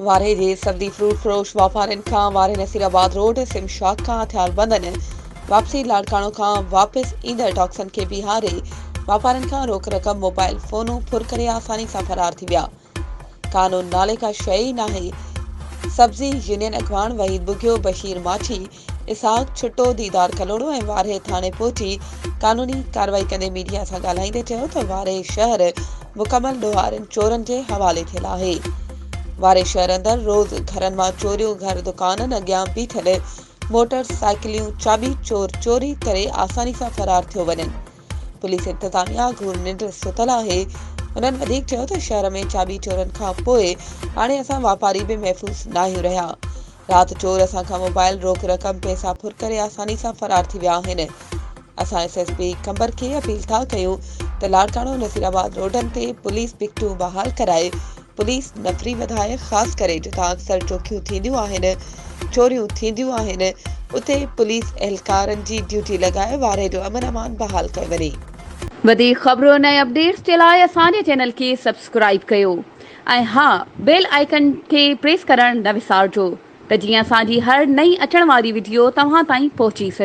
وارهي جي سندي فروٽ فروش واپارين کان وارهي نصير آباد روڊ سم شاخ کان هٿيار بندن واپسي لاڙڪاڻو کان واپس ايندڙ ٽاڪسن کي بيهاري واپارين کان روڪ رقم موبائل فونون ڦر ڪري آساني سان فرار ٿي ويا قانون نالي ڪا شيء ئي ناهي. سبزي يونين اڳواڻ وحيد ٻگهيو، بشير ماٺي، اسحاق ڇٽو، ديدار ڪلهوڙو ۽ وارهي ٿاڻي پهچي قانوني ڪارروائي ڪندي ميڊيا سان ڳالهائيندي چيو ته وارهي شهر مڪمل ڏوهارين چورن جي حوالي ٿيل آهي. وارهي شهر اندر روز گهرن مان چوريون گهر دڪانن اڳيان بيٺل موٽر سائيڪليون چاٻي چور چوري ڪري آساني سان فرار ٿيو وڃن. پوليس انتظاميا گهور ننڊ ستل آهي، هنن وڌيڪ چيو ته شهر ۾ چاٻي چورن کان پوء هاڻي اسان واپاري به محفوظ ناهيون رهيا، رات چور اسان کان موبائل، روڪ رقم، پئسا ڦر ڪري آساني سان فرار ٿي ويا آهن، اسان ايس ايس پي قمبر کي اپيل ٿا ڪيون ته لاڙڪاڻو نصيرآباد روڊن تي پوليس پڪيٽون بحال ڪرائي پوليس نفري وڌائي خاص ڪري جتان اڪثر چوڪيون ٿينديون آهن، چوريون ٿينديون آهن اتي پوليس اهلڪارن جي ڊيوٽي لڳائي وارهي جو امن امان بحال ڪيو وڃي. وڌيڪ خبرن ۽ اپڊيٽس جي لاء اسان جي چينل کي سبسڪرائيب ڪيو ۽ ها بيل آئيڪن کي پريس ڪرڻ نه وسارجو ته جيئن اسان جي هر نئين اچڻ واري وڊيو توهان تائين پهچي سگهي.